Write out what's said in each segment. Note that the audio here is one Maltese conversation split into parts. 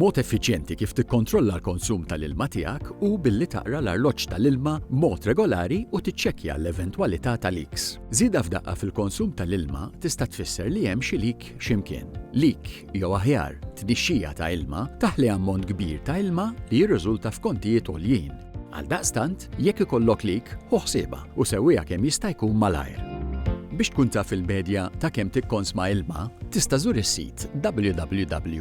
Mod effiċjenti kif tikkontrolla l-konsum tal-ilma tiegħek hu billi taqra l-arloġġ tal-ilma b'mod regolari u tiċċekkja l-eventwalità ta' leaks. Żieda f'daqqa fil-konsum tal-ilma tista' tfisser li hemm xi leak xi mkien. Leak, jew aħjar, tnixxija ta' ilma, taħli ammont kbir ta' ilma li jirriżulta f'kontijiet għoljin. Għaldaqstant, jekk ikollok leak, ħu ħsiebha u sewwiha kemm jista' jkun malajr. Biex tkun taf il-medja ta' kemm tikkonsma ilma, tista' żur is-sit www.wse.com.mt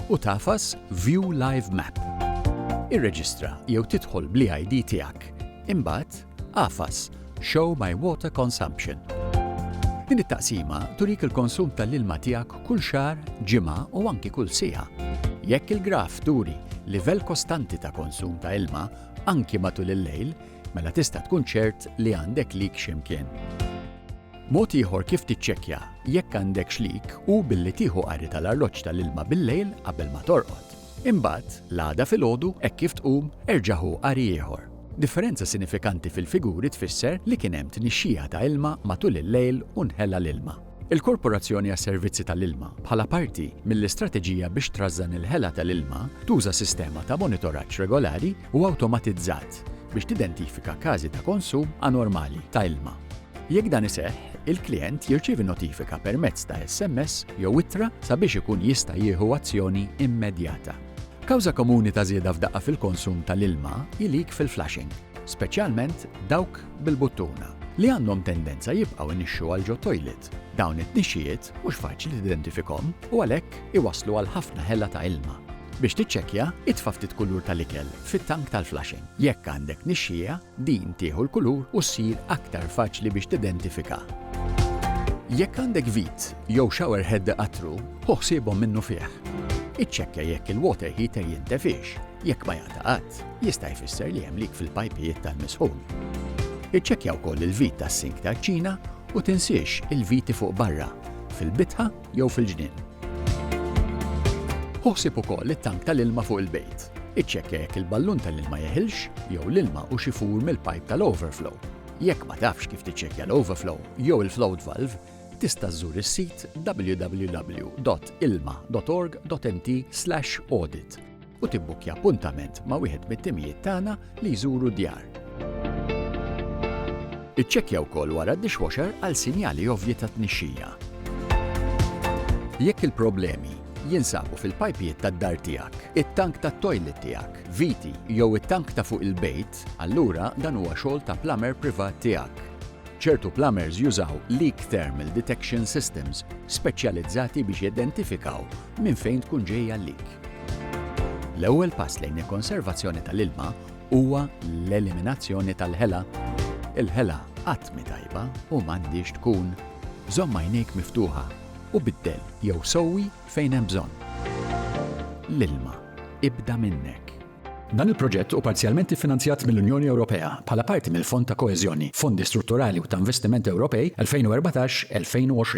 u tagħfas View Live Map. Irreġistra jew tidħol bl-EID tiegħek. Imbagħad, Qafas, Show my water consumption. Din it-taqsima turik il-konsum tal-ilma tiegħek kull xahar, ġimgħa u anki kull siegħa. Jekk il-graf turi livell kostanti ta' konsum ta' ilma anki matul il-lejl, mela tista' tkun ċert li għandek leak xi mkien. Mod ieħor kif tiċċekkja jekk għandekx leak hu billi tieħu qari tal-arloġġ tal-ilma bil-lejl qabel ma torqod. Imbagħad, l-għada filgħodu, hekk kif tqum, erġa' ħu qari ieħor. Differenza sinifikanti fil-figuri tfisser li kien hemm tnixxija ta' ilma matul il-lejl u nħela l-ilma. Il-Korporazzjoni għas-Servizzi tal-Ilma, bħala parti mill-istrateġija biex trażżan il-ħela tal-ilma, tuża sistema ta' monitoraġġ regolari u awtomatizzat biex tidentifika każi ta' konsum anormali ta' ilma. Jekk dan iseħħ, il-klijent jirċievi notifika permezz ta' SMS jew ittra sabiex ikun jista' jieħu azzjoni immedjata. Kawża komuni ta' żieda f'daqqa fil-konsum tal-ilma hi leak fil-flushing, speċjalment dawk bil-buttuna, li għandhom tendenza jibqgħu jnixxu għal ġo tojlit. Dawn it-tnixxijiet mhux faċli tidentifikhom u għalhekk iwasslu għal ħafna ħela ta' ilma. Biex tiċċekkja, itfa' ftit kulur tal-ikel fit-tank tal-flushing. Jekk għandek tnixxija, Din tieħu l-kulur u ssir aktar faċli biex tidentifika. Jekk għandek vit jew shower head iqattru, ħu ħsiebhom minnufih. Iċċekkja jekk il-water heater jintefiex. Jekk ma jaqta' qatt, jista' jfisser li hemm leak fil-pajpijiet tal-misħun. Iċċekkja wkoll il-vit tas-sink tal-kċina u tinsiex il-viti fuq barra, fil-bitħa jew fil-ġnien. Ħu ħsieb ukoll it-tank tal-ilma fuq il-bejt. Iċċekkja jekk il-ballun tal-ilma jeħilx jew l-ilma hux ifur mill-pajp tal-overflow. Jekk ma tafx kif tiċċekkja l-overflow jew il-float valve, tista' żżur is-sit www.ilma.org.mt/audit. u tibbukkja appuntament ma' wieħed mit-timijiet tagħna li jżuru d-djar. Iċċekkja wkoll wara d-dishwasher għal sinjali ovvji ta' tnixxija. Jekk il-problemi jinsabu fil-pajpijiet tad-dar tiegħek, it-tank tat-tojlet tiegħek, viti jew it-tank ta' fuq il-bejt, allura dan huwa xogħol ta' plumber privat tiegħek. Ċertu plumbers jużaw leak thermal detection systems speċjalizzati biex jidentifikaw minn fejn tkun ġej għalik. L-ewwel pass lejn il-konservazzjoni tal-ilma huwa l-eliminazzjoni tal-ħela. Il-ħela qatt mhi tajba u m'għandhiex tkun. Żomm għajnejk miftuħa u biddel jew sewwi fejn hemm bżonn. L-ilma ibda minnek. Dan il-proġett hu parzjalment iffinanzjat mill-Unjoni Ewropea bħala parti mill-Fond ta' Koeżjoni, Fondi Strutturali u ta' Investiment Ewropej 2014-2020.